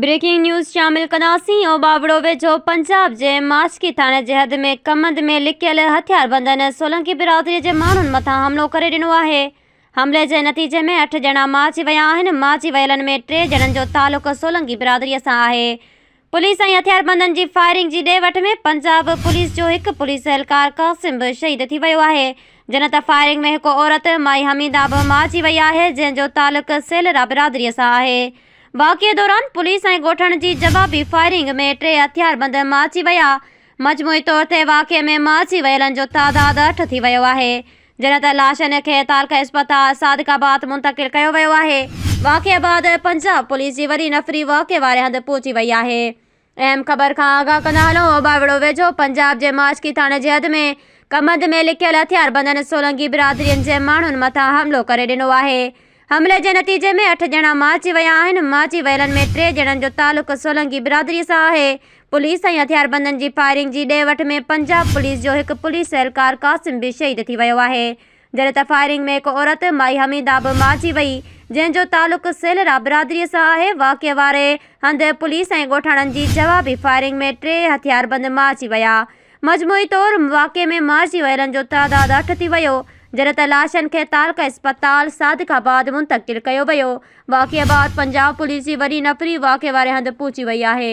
Breaking news شامل ڪنداسين اوٻاوڙو ويجهو پنجاب جي ماشڪي ٿاڻي جي حد ۾ ڪمند ۾ لڪيل هٿياربندن سولنڪي برادري جي ماڻهن مٿان حملو ڪري ڏنو آهي حملي جي نتيجي ۾ اٺ ڄڻا مارجي ويا آهن مارجي ويلن ۾ ٽي ڄڻن جو تعلق سولنڪي برادري سان آهي پوليس ۽ هٿياربندن جي فائرنگ جي ڏي وٺ ۾ پنجاب پوليس جو هڪ پوليس اهلڪار قاسم به شهيد ٿي ويو آهي جنت فائرنگ ۾ هڪ عورت مائي حميده به مارجي وئي آهي جنهن جو تعلق سيلرا برادري سان آهي واقعي دوران پوليس ۽ ڳوٺڻ جي جوابي فائرنگ ۾ ٽي هٿياربند مارجي ويا. مجموعي طور تي واقعي ۾ مارجي ويلن جو تعداد اٺ ٿي ويو آهي، جڏهن ته لاشن کي تعلقه اسپتال صادق آباد منتقل ڪيو ويو آهي. واقعي بعد پنجاب پوليس جي وڏي نفري واقعي واري هنڌ پهچي وئي آهي. اهم خبر کان آگاهه ڪندا هلون اوٻاوڙو ويجهو پنجاب جي ماشڪي ٿاڻي جي حد ۾ ڪمند ۾ لڪيل هٿياربندن سولنگي برادرين جي ماڻهن مٿان حملو ڪري ڏنو آهي حملي جي نتيجي ۾ اٺ ڄڻا مارجي ويا آهن مارجي ويلن ۾ ٽي ڄڻن جو تعلق سولنگي برادري سان آهي پوليس ۽ هٿياربندن جي فائرنگ جي ڏي وٺ ۾ پنجاب پوليس جو هڪ پوليس اهلڪار قاسم به شهيد ٿي ويو آهي جڏهن ته فائرنگ ۾ هڪ عورت مائي حميده به مارجي وئي، جنهن جو تعلق سيلرا برادري سان آهي، واقعي واري هنڌ پوليس ۽ ڳوٺاڻن جي جوابي فائرنگ ۾ ٽي هٿياربند مارجي ويا، مجموعي طور واقعي ۾ مارجي ويلن جو تعداد اٺ ٿي ويو، جڏهن ته لاشن کي تعلقه اسپتال صادق آباد منتقل ڪيو ويو، واقعي بعد پنجاب پوليس جي وڏي نفري واقعي واري هنڌ پهچي وئي آهي.